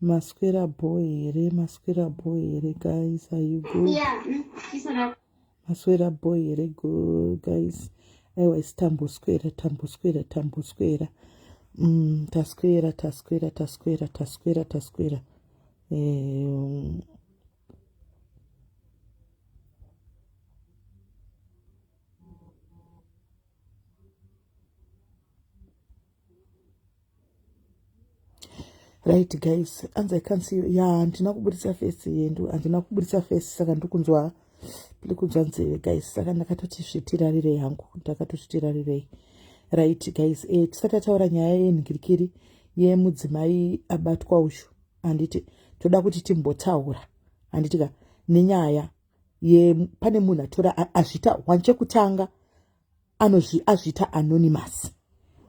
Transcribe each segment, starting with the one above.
Maswera bho here maswera bho here guys are you good yeah, mm, maswera bho here good guys aiwa isi tamboswera tamboswera tamboswera mm, taswera taswera taswera taswera taswera um, right guys anzi i can't see you ya handina kuburitsa face yendu handina kuburitsa face saka ndikunzwa ndikunzwa nzeve guys saka ndakatoti zvitirarirei hangu ndakatozvitirarirei right guys e eh, tisati ataura nyaya yenhikirikiri yemudzimai abatwa ushu handiti toda kuti timbotaura handitika nenyaya ye pane munhu atora azvita one chekutanga anozvi azviita anonymous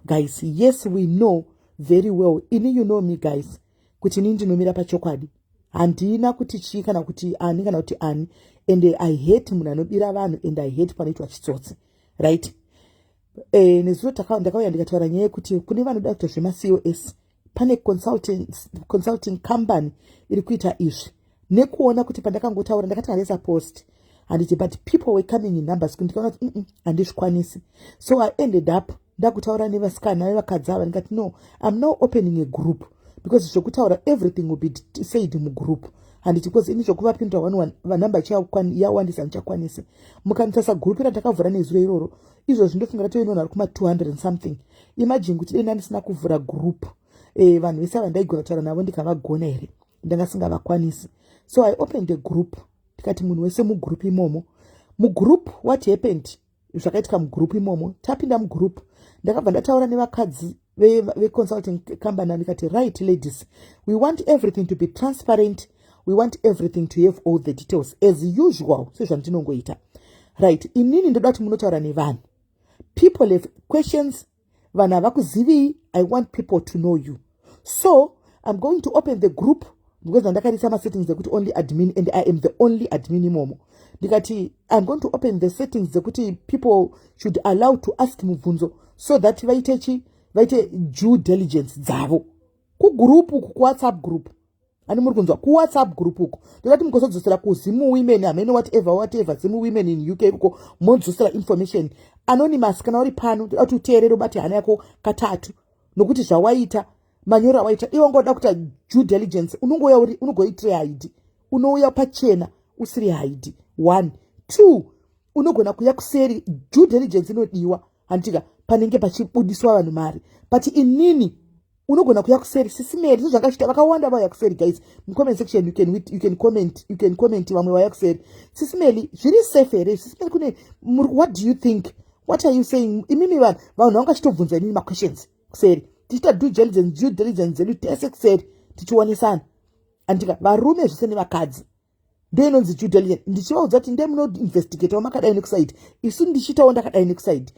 guys yes we know very well ini you know me guys kuti ini ndinomira pachokwadi handina kuti chii kana kuti ani kana kuti ani and i hate munhu anobira vanhu and i hate panoitwa chitsotsi right e, nezuro ndakauya ndikataura nyaya yekuti kune vanoda kuita zvemacos pane consulting, consulting company iri kuita izvi nekuona kuti pandakangotaura ndakati haresa post handiti but people were coming in numbers kuti ndikaona kuti mm, mm, handizvikwanisi so i ended up ndakutaura nevasikana vevakadzi ava ndikati no im now opening a group because zvekutaura everything will be said mugroup handiti because ini zvekuvapindura one one vanumber chiyawandisa ndichakwanisi mukanitasa group randakavhura nezuro iroro izvozvi ndofunga ratove nevanhu vari kuma 200 and something imagine kuti dai ndandisina kuvhura group eh, vanhu vese ava ndaigona kutaura navo ndikavagona here ndanga singavakwanisi so i opened a group tikati munhu wese mugroup imomo mugroup what happened zvakaitika mugroup imomo tapinda mugroup ndakabva ndataura nevakadzi veconsulting ve company andikati right ladies we want everything to be transparent we want everything to have all the details as usual sezvandinongoita right inini ndoda kuti munotaura nevanhu people have questions vanhu havakuzivii i want people to know you so i'm going to open the group because ndakaisa masettings ekuti only admin and i am the only admin imomo ndikati iam going to open the settings dzekuti people should allow to ask mubvunzo so that vaite chi vaite due diligence dzavo kugroup uku kuwhatsapp group ani muri kunzwa kuwhatsapp group uku ndikati mukozodzosera kuzimu women hamene whatever whatever zimu women in uk ikuko modzosera information anonymous kana uri pano ndikati uteerere ubate hana yako katatu nokuti zvawaita manyoro awaita iwe wanga uda kuita due diligence unongouya uri unogoitire haidi unouya pachena usiri haidi one two unogona kuya kuseri due diligence inodiwa handitika panenge pachibudiswa vanhu mari but inini unogona kuya kuseri sisimeri so zvakachita vakawanda vauya kuseri guys mucomment section you can, you can comment you can comment vamwe vauya kuseri sisimeri zviri safe here sisimeri kune what do you think what are you saying imimi vanhu vanhu vangachitobvunza inini maquestions kuseri tichiita due diligence due diligence dzedu tese kuseri tichionesana andika varume zvese nevakadzi ndo inonzi due diligence ndichivaudza kuti ndee munoinvestigatawo makadai nekusaidi isu ndichiitawo ndakadai nekusaidi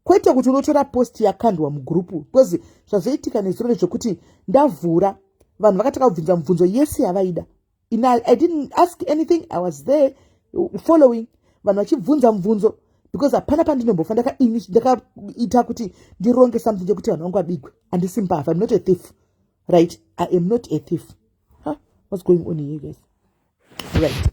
kwete kuti unotora post yakandwa mugrupu because zvazoitika nezuro rezvekuti ndavhura vanhu vakataka kubvunza mubvunzo yese yavaida in I, I didn't ask anything I was there following vanhu vachibvunza mubvunzo because hapana pandinombofa ndakaita kuti ndironge something chekuti vanhu vangu vabigwe handisi mbavha im not a thief right i am not a thief huh? whats going on here guys right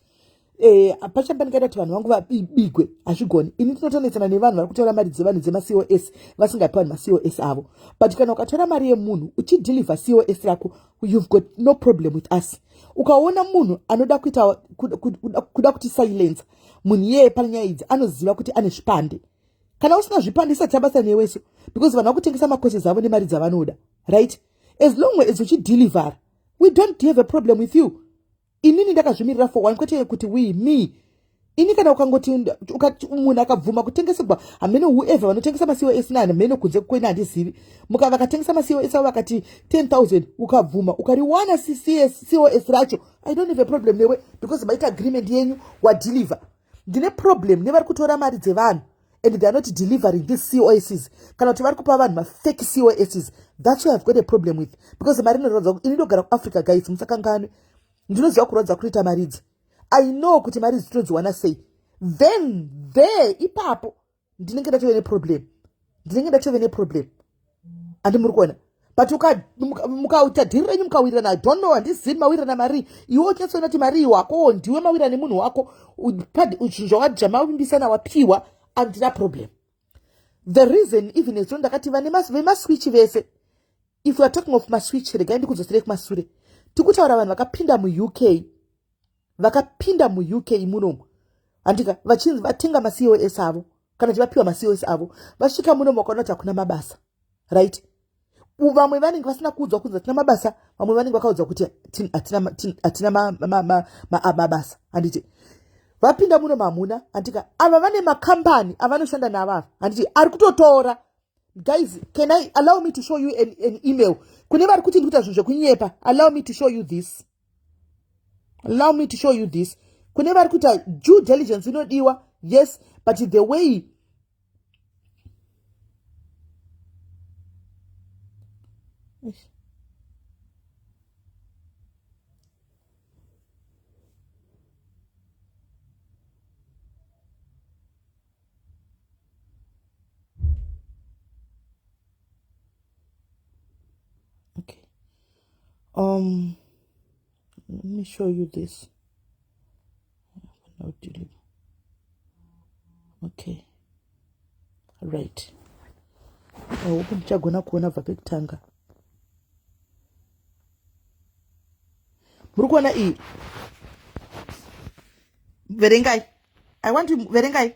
eh, pachamba pandingaita kuti vanhu vangu vabigwe hazvigoni ini tinotonetsana nevanhu vari kutora mari dzevanhu dzemacos vasingapi vanhu macos avo but kana ukatora mari yemunhu uchidhilivha cos rako you've got no problem with us ukaona munhu anoda kuita kuda kuti silence munhu iyeye pane nyaya idzi anoziva kuti ane zvipande kana usina zvipande isati abasa neweso because vanhu vakutengesa macourses avo nemari dzavanoda right as long as uchidelivera we don't have a problem with you inini ndakazvimirira for one kwete kuti we me ini kana ukangoti munhu akabvuma kutengesegwa hamene whoever vanotengesa masiwo esina hamene kunze kwene handizivi muka vakatengesa masiwo esavo vakati 10000 ukabvuma ukariwana cos racho i don't have a problem newe because maita agreement yenyu wadeliver ndine problem nevari kutora mari dzevanhu and they are not delivering these coss kana kuti vari kupa vanhu mafake coss thats why ive got a problem with because mari inoratidza kuti ini ndogara kuafrica guys musakanganwe ndinoziva kurwadza kutoita mari idzi i know kuti mari idzi tinodziwana sei then there ipapo ndinenge ndatove neproblem ndinenge ndatove neproblem andi muri kuona but mukaita dhiri renyu mukawirirana i don't know handizivi mawirirana marii iwe uchatsoona kuti marii wakowo ndiwe mawirira nemunhu wako zvinhu zvawajamavimbisana wapiwa andina problem the reason even ezvo ndakati vane vemaswitch vese if youare talking of maswitch regai ndikudzosirei kumasure tikutaura vanhu vakapinda muuk vakapinda muuk munomu handika vachinzi vatenga macos avo kana kuti vapiwa macos avo vasvika munomu vakaona kuti hakuna mabasa right vamwe vanenge vasina kuudzwa kunzi hatina mabasa vamwe vanenge vakaudzwa kuti hatina mabasa handiti vapinda muno mamuna handika ava vane makambani avanoshanda navo ava handiti ari kutotora guys can i allow me to show you an, an email kune vari kuti ndikuita zvinhu zvekunyepa allow me to show you this allow me to show you this kune vari kuita due diligence inodiwa yes but the way Um, let me show you this. Okay. Right. Oh, ndichagona kuona bva pekutanga. Muri kuona iyi? Verengai. I want to verengai.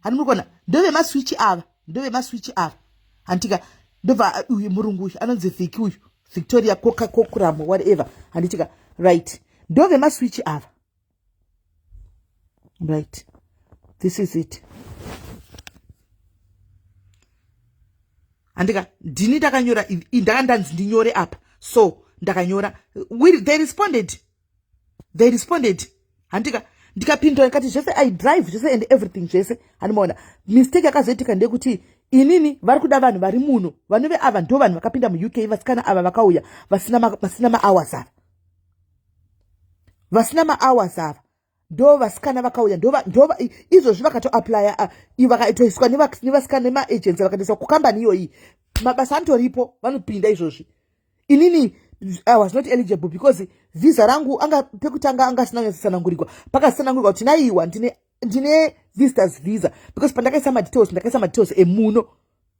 hani muri kuona ndove maswichi ava ndove maswichi ava handitika ndobva uh, uyu murungu uyu anonzi vhiki uyu victoria koka kokuramo whatever handitika right ndove maswichi ava right this is it handika ndini ndakanyora ndaka ndanzi ndinyore apa so ndakanyora they responded they responded handika ndikapindura ndikati zvese i drive zvese and everything zvese handimaona mistake yakazoitika ndeyekuti inini vari kuda vanhu vari muno vanove ava ndo vanhu vakapinda muuk vasikana ava vakauya vasina mahours ava vasina mahours ava ndo vasikana vakauya ndova izvozvi vakatoaplya ah, vakatoiswa nevasikana nemaagency vakatoiswa kukambani iyoyi mabasa anotoripo vanopinda izvozvi inini i was not eligible because visa rangu anga pekutanga anga asina nyatsosanangurigwa pakasanangurigwa kuti naiwa ndine ndine visitors visa because pandakaisa madetails ndakaisa madetails emuno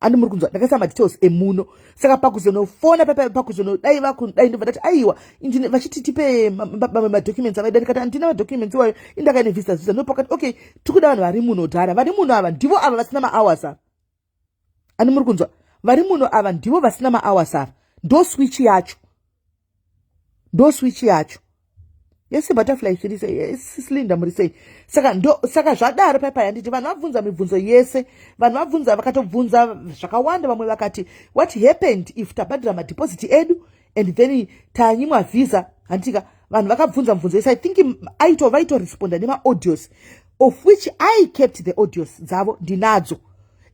andi muri kunzwa ndakaisa madetails emuno saka pakuzonofona pakuzono dai vaku dai ndobva ndati aiwa ndine vachiti tipe mamwe madocuments avaida ndikati andina madocuments iwayo indakaine visitors visa ndopakati okay tiri kuda vanhu vari muno dhara vari muno ava ndivo ava vasina mahours ava ani muri kunzwa vari muno ava ndivo vasina maawas ava ndo switch yacho ndo switch yacho yese butterfly isiri sei eh, sislinda muri sei saka ndo saka zvadaro pai pai handiti vanhu vabvunza mibvunzo yese vanhu vabvunza vakatobvunza zvakawanda vamwe vakati what happened if tabhadhira madhipoziti edu and then tanyimwa visa handitika vanhu vakabvunza mubvunzo yese i think aito vaitoresponda nemaaudios of which i kept the audios dzavo ndinadzo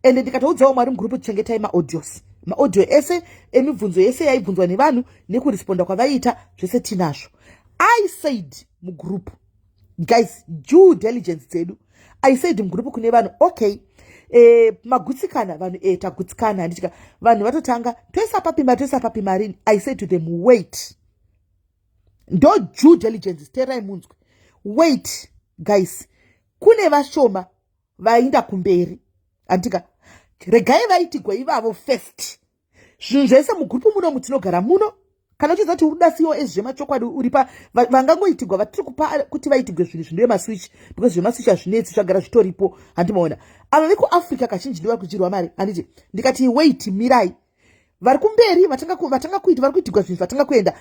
and ndikatoudzawo mwari mugroup tichengetai maaudios maaudio ese emibvunzo yese yaibvunzwa nevanhu nekuresponda kwavaiita zvese tinazvo i said mugroup guys due diligence dzedu i said mugrupu kune vanhu okay eh, magutsikana vanhu eh, tagutsikana handitika vanhu vatotanga toisa papi mari toisa papi marini i said to them wait ndo due diligence terai munzwi wait guys kune vashoma vainda kumberi handitika regai vaitigwa ivavo first zvinhu zvaisa mugrupu muno mutinogara muno kana uchiziva kuti uri da cos zvemachokwadi uri pa vangangoitigwa vatiri kupa kuti vaitigwe zvinhu zvinoye maswitch because zvemaswitch hazvinetsi zvagara zvitoripo handi maona ava vekuafrica kazhinji ndivari kudyirwa mari handiti ndikati wait mirai vari kumberi vatanga kuita vari kuitigwa zvinhu zvatanga kuenda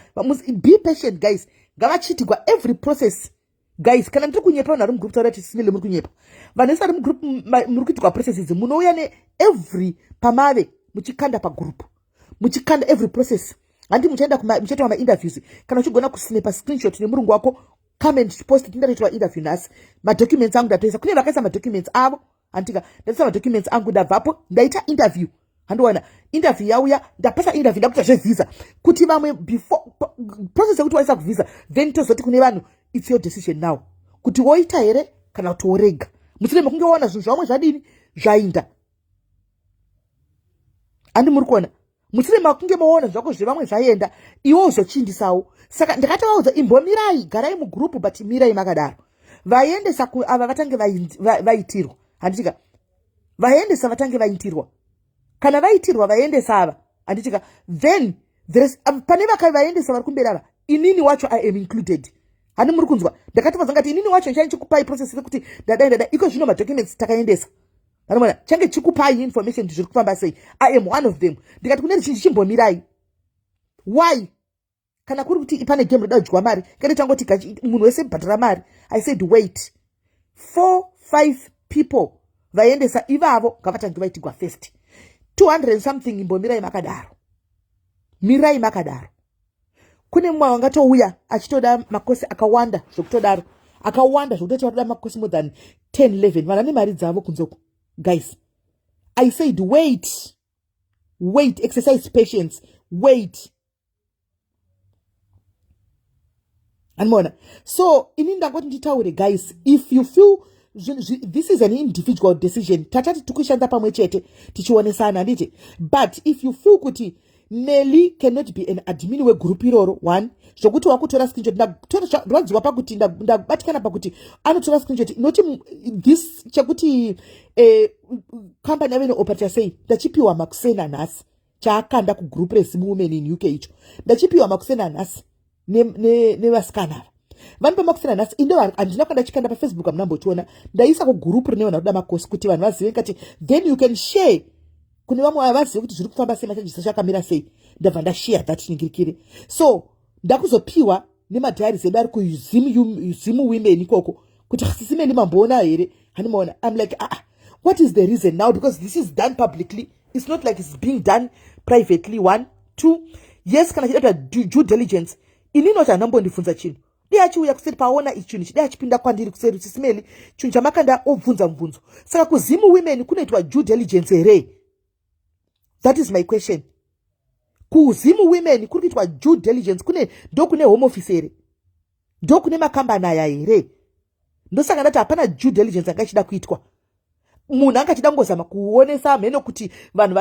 be patient guys ngavachiitigwa every process guys kana ndiri kunyepa vanhu vari mugroup taura tisimile muri kunyepa vanhu vese vari mugroup muri kuitirwa process idzi munouya neevery pamave muchikanda pagroup muchikanda every process handi muchaenda muchaitwa mainterviews kana uchigona kusinepa screenshot nemurungu wako come and post tindatoitwa interview nhasi madocuments angu ndatoisa kune vakaisa madocuments avo handika ndaisa madocuments angu ndabvapo ndaita interview handiwana interview yauya ndapasa interview ndakuita zvevhisa kuti vamwe before process yekuti waisa kuvhisa then tozoti kune vanhu its your decision now kuti woita here kana kuti worega musine mekunge waona zvinhu zvavamwe zvadini zvainda andi muri kuona musire makunge maona zvako zvevamwe zvaenda iwo uzochindisawo saka ndakatovaudza imbomirai garai mugurupu but mirai makadaro vaiendesa kuava vatange vaitirwa handitika vaiendesa vatange vaitirwa kana vaitirwa vaiendesa ava handitika then um, pane vakai vaiendesa vari kumberi ava inini wacho i am included hani muri kunzwa ndakatovaudza ngati inini wacho ndichani chikupai process rekuti ndadai ndadai iko zvino madocuments takaendesa vanomwana change chikupai information kuti zviri kufamba sei i am one of them ndikati kune ruzhinji chimbomirai why kana kuri kuti pane game roda kudyiwa mari kende tangoti munhu wese bhadhara mari i said wait four five people vaiendesa ivavo ngavatange vaitigwa first 200 something imbomirai makadaro mirai makadaro kune mumwe wangatouya achitoda makosi akawanda zvokutodaro akawanda zvokutoti vatoda makosi more than 10 11 vana nemari dzavo kunzoko guys i said wait wait exercise patience wait animoona so ini ndangoti nditaure guys if you feel this is an individual decision tatati tikushanda pamwe chete tichionesana handiti but if you feel kuti nely cannot be an admin wegroup iroro one zvokuti wakutora screenshot ndarwadziwa pakuti ndabatikana pakuti anotora screenshot inoti this chekuti eh, company yave neoperator sei ndachipiwa makusena nhasi chaakanda kugroup rezimu women in uk icho ndachipiwa makuseni anhasi nevasikana ne, ne ava vanopa makuseni anhasi inde handina kuenda chikanda pafacebook amuna mbochiona ndaisa kugroup rine vanhu vakuda makosi kuti vanhu vazive kati then you can share kune vamwe vavazive kuti zviri kufamba sei machajisa chakamira sei ndabva ndashiya that ningirikire so ndakuzopiwa nemadiaries edu ari kuzimu women ikoko kuti sisi meni mamboona here hanimaona im like aa ah, what is the reason now because this is done publicly it's not like it's being done privately one two yes kana chida kuti due diligence ini inoti handambondibvunza chinhu dei achiuya kuseri paona ichi chinhu chidei achipinda kwandiri kuseri kuti simeli chinhu chamakanda obvunza mubvunzo saka kuzimu women kunoitwa due diligence here that is my question kuzimu women kuri kuitwa due diligence kune ndokune home office here ndokune makambani aya here ndosaka ndati hapana due diligence anga ichida kuitwa munhu anga achida kungozama kuonesa mheno kuti vanhu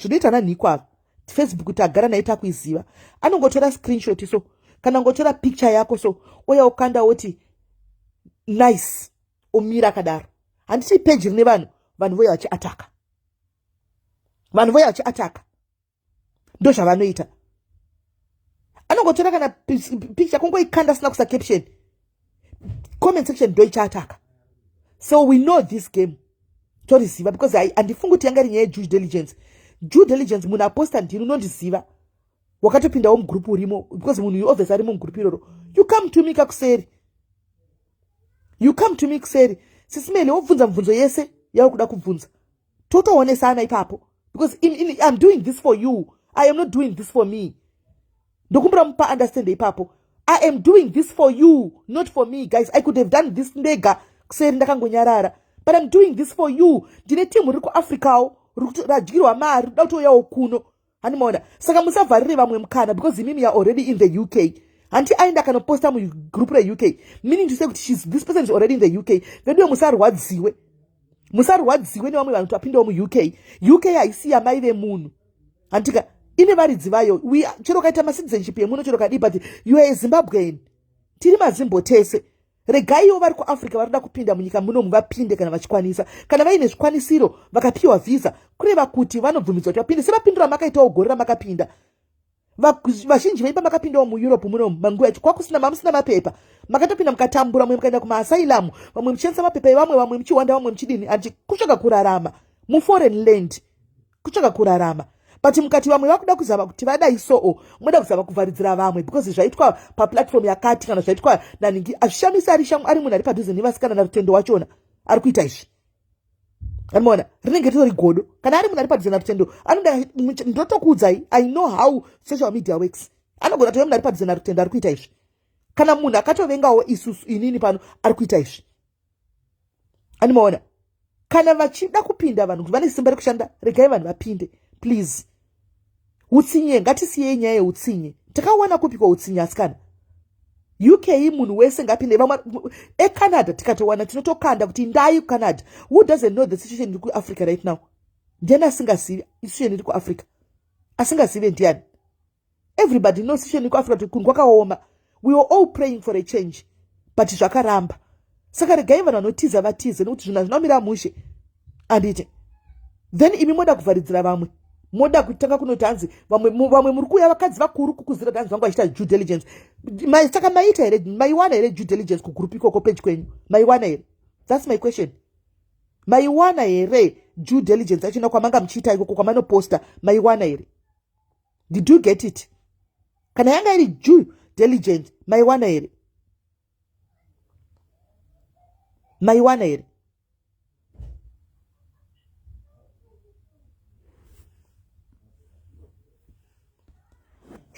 zvinoita nanhiko ava facebook tagara naye takuiziva anongotora screenshot so kana ngotora picture yako so oya ukanda woti nice omira akadaro handiti peji rine vanhu vanhu voya vachiataka vanhu voya vachiataka ndo zvavanoita anongotora kana picture kungoikanda sina kusa caption comment section ndo ichaataka so we know this game toriziva because handifungi kuti yanga iri nyaya yejew diligence jew diligence munhu aposta ndini unondiziva wakatopindawo mugroup urimo because munhu uyu obviously ari mumugroup iroro you come to me kakuseri you come to me kuseri sisimene wobvunza mubvunzo yese yaukuda kubvunza totoonesana ipapo because in, in, iam doing this for you i am not doing this for me ndokumbira mupa understand ipapo i am doing this for you not for me guys i could have done this ndega kuseri ndakangonyarara but iam doing this for you ndine team riri kuafricawo radyirwa mari rida kutouyawo kuno hanimoona saka musavharire vamwe mukana because imimi you're already in the uk hanti aenda akanoposta mugroup reuk meaning to say kuti shes this person is already in the uk veduwe musarwadziwe musarwadziwe nevamwe vanhu tapindawo muuk uk haisi yamai vemunhu hantika ine varidzi vayo chero kaita macitizenship yemuno chero kadii but youare zimbabwean tiri mazimbo tese regaiwo vari kuafrica vanoda kupinda munyika munomu vapinde kana vachikwanisa kana vaine zvikwanisiro vakapiwa vhisa kureva kuti vanobvumidzwa kuti vapinde sevapindura amakaitawo gore ramakapinda vazhinji vaipa makapindawo mueurope munomu manguva yacho kwakusina mamusina mapepa makatopinda mukatambura vamwe mukaenda kumaasailamu vamwe muchishandisa mapepa evamwe vamwe muchihwanda vamwe muchidini handikusvaka kurarama muforeign land kutsvaka kurarama but mukati vamwe vakuda kuzama kuti vadai soo moda kuzama kuvharidzira vamwe because zvaitwa paplatform yakati kana zvaitwa naningi azvishamisi ari shamu ari munhu ari padhuze nevasikana narutendo wachona ari kuita izvi animoona rinenge ritori godo kana ari munhu ari padhuze narutendo anoda ndotokuudzai i know how social media works anogona tove munhu ari padhuze narutendo ari kuita izvi kana munhu akatovengawo isusu inini pano ari kuita izvi animoona kana vachida kupinda vanhu kuti vane simba rekushanda regai vanhu vapinde please utsinye ngatisiyei nyaya yeutsinye takawana kupi kwautsinye asikana uk munhu wese ngapinde vamwe ecanada tikatowana tinotokanda kuti ndai kucanada who doesn't know the situation iri kuafrica right now ndiani asingazivi situation iri kuafrica asingazive ndiani everybody knows situation ikuafrica kuti kunhu kwakaoma we were all praying for a change but zvakaramba saka regai vanhu vanotiza vatize nekuti zvinhu hazvina kumira mushe anditi then imi moda kuvharidzira vamwe moda kutanga kunoti hanzi vamwe muri kuuya vakadzi vakuru kukuzira kuti hanzi vangu vachiita due diligence saka maiita here maiwana here due diligence kugroup ikoko peji kwenyu maiwana here thats my question maiwana here due diligence achina kwamanga muchiita ikoko kwamanoposta maiwana here did you get it kana yanga iri ju diligent maiwana here maiwana here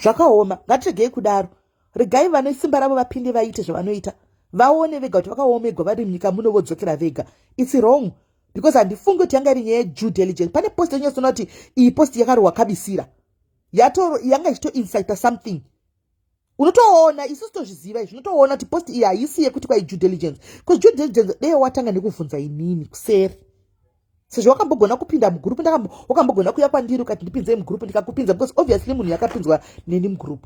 zvakaoma ngatiregei kudaro regai vane simba ravo vapinde vaite zvavanoita vaone vega kuti vakaomegwa vari munyika muno vodzokera vega its wrong because handifungi kuti yanga iri nyaya yedue diligence pane post yanyasona kuti iyi post yakarohwa kabisira yatoro yanga ichitoincita something unotoona isu sitozviziva izvi unotoona kuti post iyi haisi yekuti kwai due diligence bcause due diligence deye watanga nekuvhunza inini kuseri sezvo wakambogona kupinda mugroup wakambogona kuya kwandiri ukati ndipinzei mugroup ndikakupinza because obviously munhu yakapinzwa neni mugroup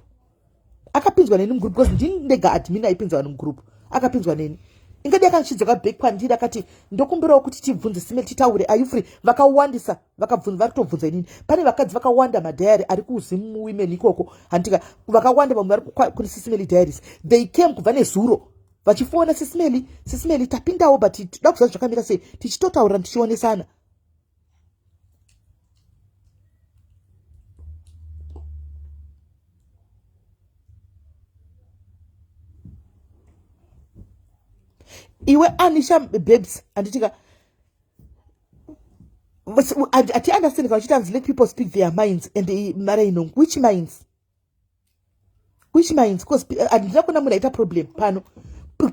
akapinzwa neni mugroup because ndini ndega admin aipinza vanhu mugroup akapinzwa neni ingadi akandichidzoka back kwandiri akati ndokumbirawo kuti tibvunze sime titaure ayufree vakawandisa vakabvunza vari kutobvunza inini pane vakadzi vakawanda madhayari ari kuzim women ikoko handitika vakawanda vamwe vari kune sisimeli diaries they came kubva nezuro vachifona sisimeli sisimeli tapindawo but toda kuziva zvakamira sei tichitotaurira tichionesana iwe anisha babes anditika ati understand kana uchiti anzi let people speak their minds and mara inong which minds which minds cause eh, handina kuona munhu aita problem pano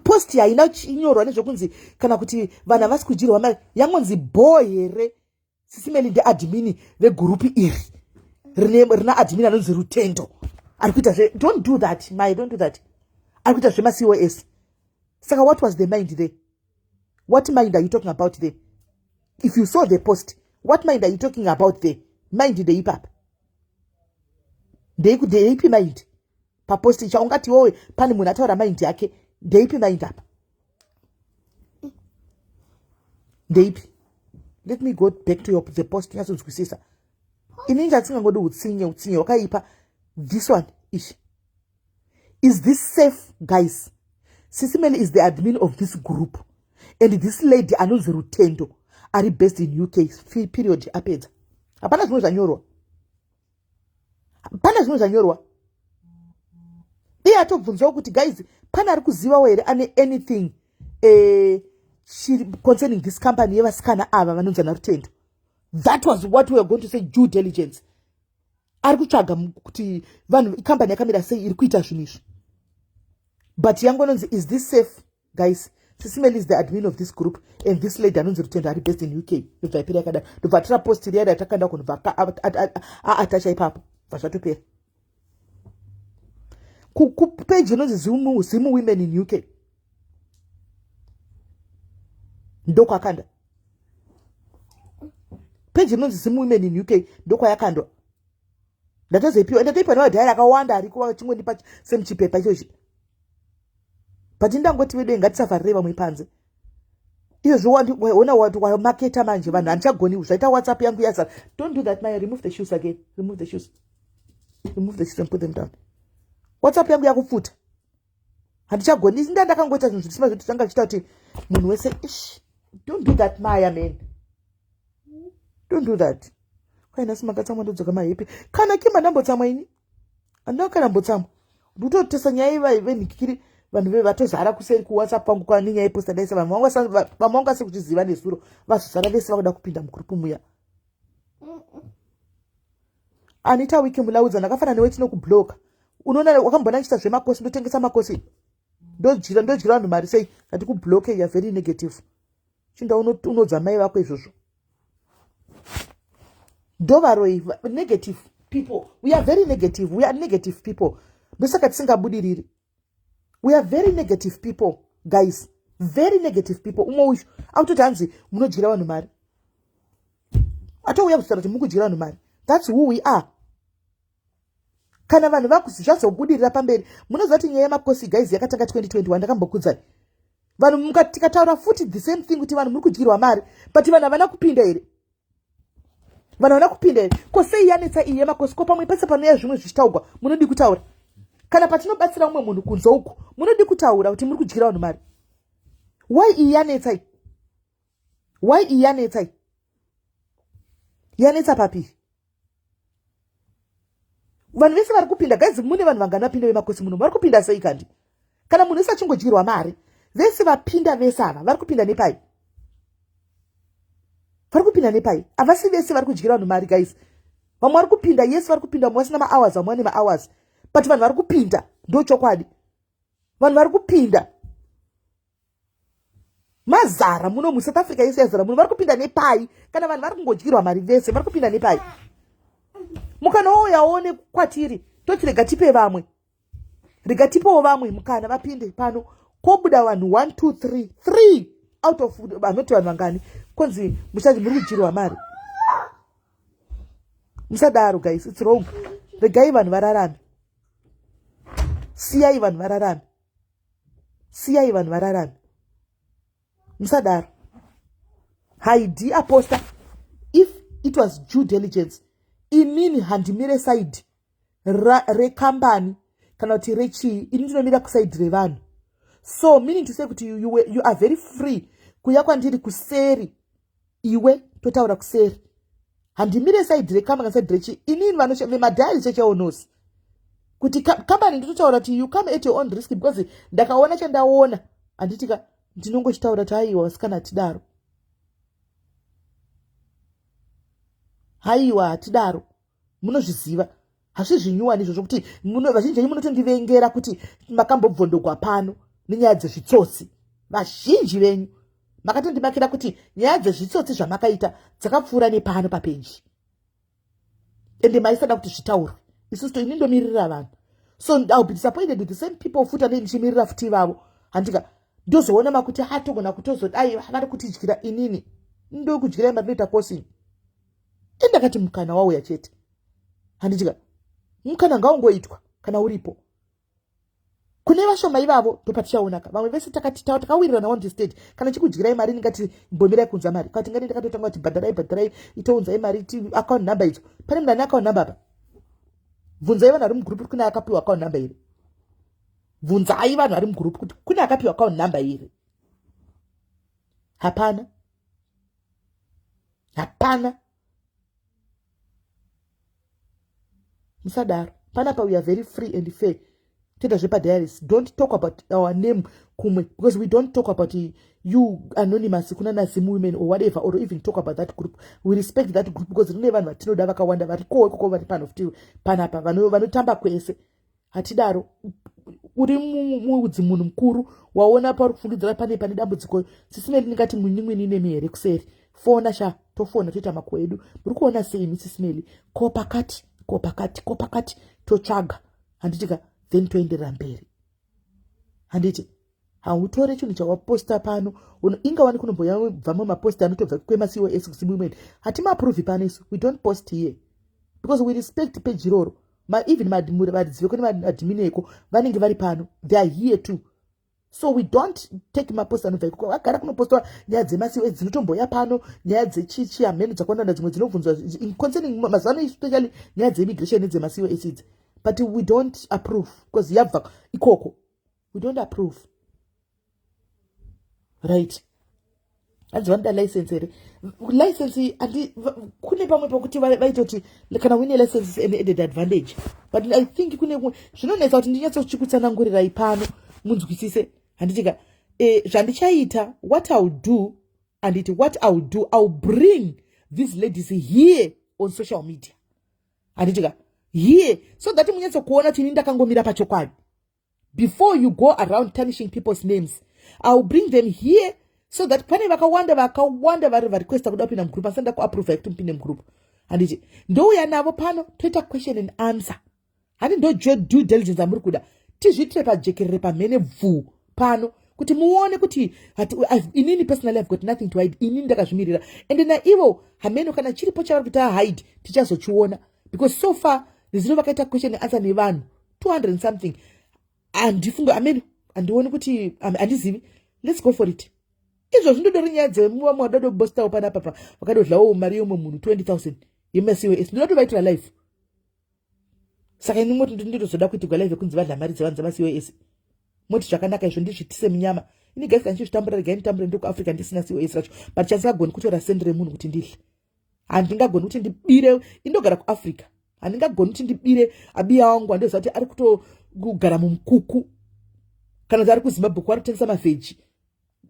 post haina inyorwa nezvekunzi kana kuti vanhu havasi kudyirwa mari yangonzi bho here sisi meli ndeadmini vegurupi iri rina admini anonzi rutendo ari kuita zve don't do that my don't do that ari kuita zvemacos saka what was the mind there what mind are you talking about there if you saw the post what mind are you talking about there mind ndei papa ndeiku ndeipi mind papost icha ungati wowe pane munhu ataura mind yake ndeipi mind apa ndeipi let me go back to your, the post nyatsodzwisisa ini inga tisingangodi utsinye utsinye wakaipa this one ishi is this safe guys sisi mele is the admin of this group and this lady anonzi rutendo ari based in uk period apedza hapana zvimwe zvanyorwa hapana zvimwe zvanyorwa iye atobvunzawo kuti guys pane ari kuzivawo here ane anything eh, concerning this company yevasikana ava vanonzi ana rutendo that was what weare going to say due diligence ari kutsvaga kuti vanhu ikambani yakamira sei iri kuita zvinhu izvi but yangu anonzi is this safe guys sisimel is the admin of this group and this lady anonzi rutendo ari based in uk ndobva ipera yakadaro ndobva atora post riya ratakanda kunobva aatacha ipapo bva zvatopera kupeji inonzi zimu women in uk ndokwakanda peji inonzi zim women in uk ndokwayakandwa ndatozoipiwa ndatoipa newadhayari akawanda ariko achingondipa semuchipepa ichochi but ndangoti vedei ngatisafarirei vamwe panze izvozvi waona wati wamaketa manje vanhu handichagoni zvaita whatsapp yangu yazara don't do that my remove the shoes again remove the shoes remove the shoes and put them down whatsapp yangu yakupfuta handichagoni isi ndandakangoita zvinhu zvirisima zvekuti tanga zvichita kuti munhu wese ish don't do that maya man don't do that kwaina simakatsamwa ndodzoka mahepi kana kima ndambotsamwa ini andina kana mbotsamwa ndototesa nyaya ivai venhikikiri vanhu ve vatozara kuseri kuwhatsapp kwangu kwane nyaya iposta daisa vanhu vamwe vanga se kuchiziva nezuro vazozara vese vakuda kupinda mugrupu muya Anita wiki mulaudza ndakafana newe tinokubloka unoona wakamboona ndichiita zvemakosi ndotengesa makosi ndodyira ndodyira vanhu mari sei ndati kubloke ya very negative chinda unodza mai vako izvozvo ndovaroi negative people we are very negative we are negative people ndosaka tisingabudiriri we are very negative people guys very negative people umwe uyu akutoti hanzi munodyira vanhu mari atouya kuzvita kuti mukudyira vanhu mari thats who we are kana vanhu vakuzvazobudirira pamberi munoziva kuti nyaya yemakosi guys yakatanga 2021 ndakambokudzai vanhu tikataura futi the same thing kuti vanhu muri kudyirwa mari but vanhu havana kupinda here vanhu vana kupinda here ko sei yanetsa iye makosi ko pamwe pese panouya zvimwe zvichitaugwa munodii kutaura kana patinobatsira umwe munhu kunze uku munodii kutaura kuti muri kudyira vanhu mari why iyi yanetsai why iyi yanetsai yanetsa papii vanhu vese vari kupinda guys mune vanhu vangani vapinda vemakosi muno vari kupinda sei kandi kana munhu wese achingodyirwa mari vese vapinda vese ava vari kupinda nepai vari kupinda nepai havasi vese vari kudyira vanhu mari guys vamwe vari kupinda yes vari kupinda vamwe vasina mahours vamwe vane mahours but vanhu vari kupinda ndo chokwadi vanhu vari kupinda mazara muno musouth africa yese yazara muno vari kupinda nepai kana vanhu vari kungodyirwa mari vese vari kupinda nepai mukana wouyaone kwatiri toti rega tipe vamwe rega tipewo vamwe mukana vapinde pano kobuda vanhu 1 2 3 3 out of vanoti vanhu vangani kwanzi muchati muri kudyirwa mari musadaro guys its wrong regai vanhu vararame siyai vanhu vararame siyai vanhu vararame musadaro haidi aposta if it was due diligence inini handimire saidi rekambani kana kuti rechii ini ndinomira kusaidi revanhu so meaning to say kuti you, you, you are very free kuya kwandiri kuseri iwe totaura kuseri handimire saidi rekamba kana saidi rechi inini vanomadhari checheonosi kuti kambani nditotaura kuti you come at your own risk because ndakaona chandaona handitika ndinongochitaura kuti haiwa vasikana hatidaro haiwa hatidaro munozviziva hazvizvinyuwani izvo zvokuti vazhinji venyu munotondivengera kuti makambobvondogwa pano nenyaya dzezvitsotsi vazhinji venyu makatondimakira kuti nyaya dzezvitsotsi zvamakaita dzakapfuura nepano papeji ende maisada kuti zvitaurwe isusu to ini ndomirira vanhu so ill be disappointed with the same people futi anei ndichimirira futi ivavo handika ndozoona makuti hatogona kutozodai vari kutidyira inini ndokudyirai matinoita posini e ndakati mukana wauya chete handitika mukana ngaungoitwa kana uripo kune vashoma ivavo ndopatichaonaka vamwe vese takati tawa takawirirana on the stage kana chikudyirai mari ndingati mbomirai kunza mari kati ngani ndakatotanga kuti bhadharai bhadharai itounzai mari ti account number idzo pane munhu ane account number apa bvunzai vanhu vari mugroup kune akapiwa account number iri bvunzai vanhu vari mugroup kuti kune akapiwa account number iri hapana hapana musadaro panapa we are very free and fair toita zvepadiaris don't talk about our name kumwe because we don't talk about you anonymous kuna nazim women or whatever or even talk about that group we respect that group because rine vanhu vatinoda vakawanda varikowo ikoko vari pano futi panapa vanotamba kwese hatidaro uri muudzi munhu mukuru waona pauri kufungidzira pane pane dambudziko sisi meli ndingati mwinin'wini nemi here kuseri fona sha tofona toita mako edu muri kuona sei imi sisi meli ko pakati ko pakati ko pakati totsvaga handitika then toenderera mberi handiti hautore chinhu chawaposta pano inga wani kunomboya vamwe mapost anotobva kwemacos kusimumen hatimaapruvi pano isu we don't post here because we respect peji iroro even varidzi veko nemadimini eko vanenge vari pano they are here too so we don't take mapost anobva ikoko vagara kunopostwa nyaya dzemacos dzinotomboya pano nyaya dzechichi hameno dzakwanana dzimwe dzinobvunzwa concerning mazuva ano especially nyaya dzeimmigration nedzemacos idzi but we don't approve because yabva ikoko we don't approve right hanzi vanoda license here license andi kune pamwe pokuti vaita kuti kana wine license is an added advantage but i think kune kumwe zvinonetsa kuti ndinyatsochikutsanangurirai pano munzwisise handitika eh, zvandichaita what ill do anditi what ill do ill bring these ladies here on social media handitika here so that munyatsokuona kuti ini ndakangomira pachokwadi before you go around tarnishing people's names iwill bring them here so that pane vakawanda vakawanda vari varequesta kuda kupinda mugroup asanda kuaprova yekuti mupinde mugroup handiti ndouya navo pano toita question and answer handi ndojo due diligence amuri kuda tizviitire pajekerere pamhene bvuu pano kuti muone kuti inini personally have got nothing to hide inini ndakazvimirira ende naivo hameno kana chiripo chavari kuti ahide tichazochiona because so far nezino vakaita question neansa nevanhu 200 and something handifunge amene handioni kuti handizivi let's go for it izvo zvinodori nyaya dzemuva mwadado bostawo pana papa vakadodlawo mari yeumwe munhu 20 000 yemasiws ndinoda tovaitira life saka ini moti nditozoda kuitigwa live yekunzi vadla mari dzevanhu dzemasiws moti zvakanaka izvo ndizvitise munyama ini gasi kandichizvitambura regai nditambure ndiri kuafrica ndisina cos racho but chasingagoni kutora sendi remunhu kuti ndidle handingagoni kuti ndibire indogara kuafrica handingagoni kuti ndibire abiya wangu andiziva kuti ari kutogara mumukuku kana kuti ari kuzimbabwe kwari kutengesa mavheji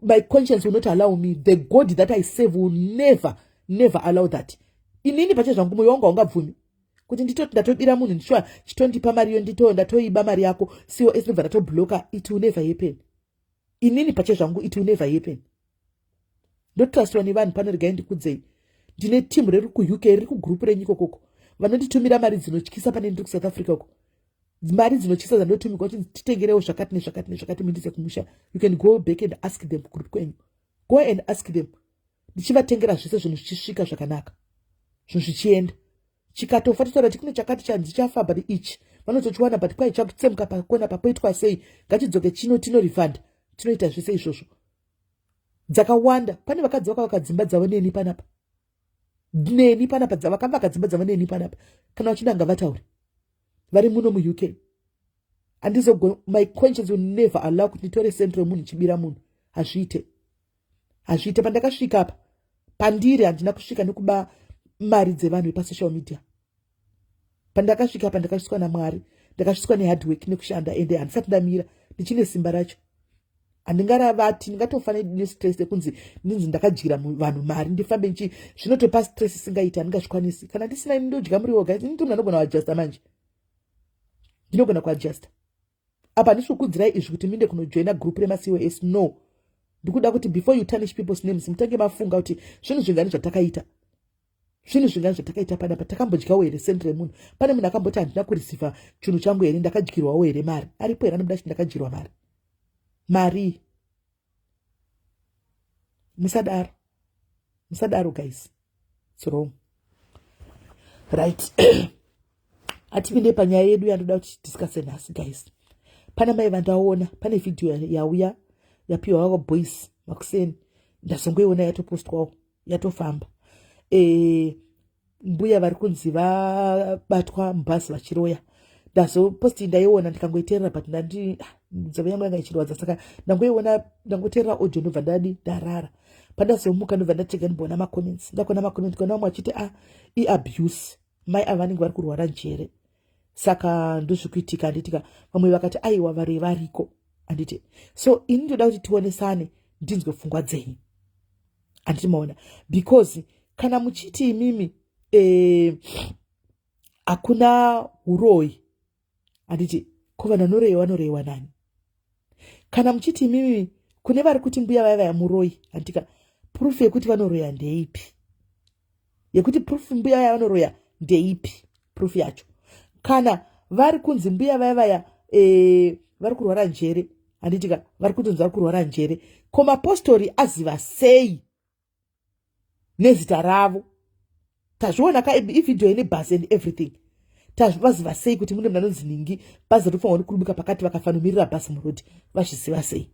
my conscience will not allow me the god that i save will never never allow that inini pache zvangu moyo wangu haungabvumi kuti nditoti ndatobira munhu ndishuwa chitondipa mari yo ndito ndatoiba mari yako cos ndobva ndatobloka it will never happen inini pache zvangu it will never happen ndotrustwa nevanhu pano regai ndikudzei ndine team riri kuuk riri kugroup renyu ikokoko vanonditumira mari dzinotyisa pane ndiri kusouth africa uko mari dzinotyisa dzandotumigwa kuti titengerewo zvakati nezvakati nezvakati muindise kumusha you can go back and ask them kugroup kwenyu go and ask them ndichivatengera zvese zvinhu zvichisvika zvakanaka zvinhu zvichienda chikatofa totaura kuti kune chakati chanzi chafa but ichi vanotochiwana but kwai chakutsemuka pakona papoitwa sei ngachidzoke chino tinorifanda tinoita zvese izvozvo dzakawanda pane vakadzi vaka vakadzimba dzavo neni panapa neni panapa vakava vakadzimba dzavo neni panapa kana vachida nga vataure vari muno muuk andizogona my conscience will never allow kuti nditore centro yemunhu chibira munhu hazviite hazviite pandakasvika apa pandiri handina kusvika nekuba mari dzevanhu vepasocial media pandakasvika apa ndakasviswa namwari ndakasviswa nehardwork nekushanda ende handisati ndamira ndichine simba racho handingaravati ndingatofana nestress yekunzi ndinzi ndakadyira vanhu mari ndifambe nchi zvinotopa stress isingaiti handingazvikwanisi kana ndisina ini ndodya muri woga ini ndimnhu anogona kuadjusta manje ndinogona kuadjusta apa ndisiri kukudzirai izvi kuti minde kunojoina group remacos no ndikuda kuti before you tarnish people's names mutange mafunga kuti zvinhu zvingani zvatakaita zvinhu zvingani zvatakaita panapa takambodyawo here send remunhu pane munhu akamboti handina kurisiva chinhu changu here ndakadyirwawo here mari aripo here anobuda chiti ndakadyirwa mari marii musadaro musadaro guys its wrong right hatipinde panyaya yedu yandoda kuti discuse nhasi guys pana mai vandaona pane vhidhiyo yauya yapiwa vavo boys makuseni ndazongoiona yatopostwawo yatofamba e, mbuya vari kunzi vabatwa mubhazi vachiroya ndazoposti ndaiona ndikangoiterera but ndandi ah, nzeve yangu yanga ichirwadza saka ndangoiona ndangoterera audio ndobva ndadi ndarara pandazomuka ndobva ndatega ndiboona macomments ndakona macomment kona vamwe vachiti a ah, iabuse mai ava vanenge vari kurwara njere saka ndozvi kuitika handitika vamwe vakati aiwa vari variko handiti so ini ndoda kuti tionesane ndinzwe pfungwa dzenyu handiti maona because kana muchiti imimi eh, hakuna eh, uroyi handiti ko vanhu vanoreyiwa vanoreyiwa nani kana muchiti imimi kune vari kuti mbuya vaya vaya muroyi handitika prufu yekuti vanoroya ndeipi yekuti proof mbuya vaya vanoroya ndeipi proof yacho kana vari kunzi mbuya vaya vaya e, vari kurwara njere handitika vari kutonzi vari kurwara njere ko mapostori aziva sei nezita ravo tazviona ka ivhidhiyo ine bus and everything tazvivaziva sei kuti mune mnanonzi ningi bhazi ratofanwa uri kurubika pakati vakafanomirira bhasi murodi vazviziva sei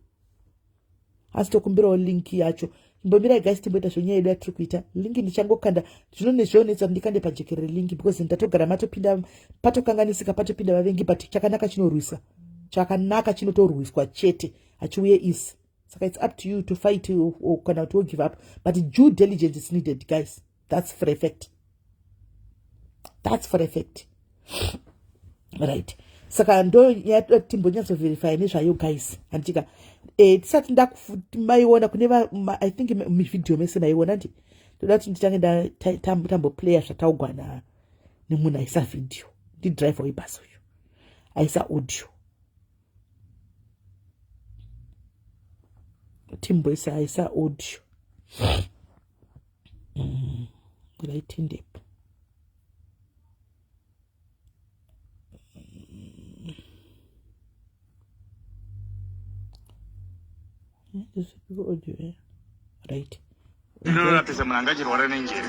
asi tokumbirawo link yacho imbomirai guys timboita zvenyaya yedu yatiri kuita link ndichangokanda zvino nezvionetsa kuti ndikande pajekerere link because ndatogara matopinda patokanganisika patopinda vavengi but chakanaka chinorwisa chakanaka chinotorwiswa chete hachiuye isi saka its up to you to fight kana kuti wogive up but due diligence is needed guys that's for effect that's for effect right saka ndo timbonyatsoverify nezvayo guys handitika eh, tisati ndakufuti maiona kune i think mivhidhiyo mese maiona ndi ndoda kuti nditange ndatamboplaya zvataugwana nemunhu aisa vhidhiyo ndidriver webhasi uyu aisa audio timboisa aisa audio ngaitendepo right inoratidza munhu angachirwara nenjere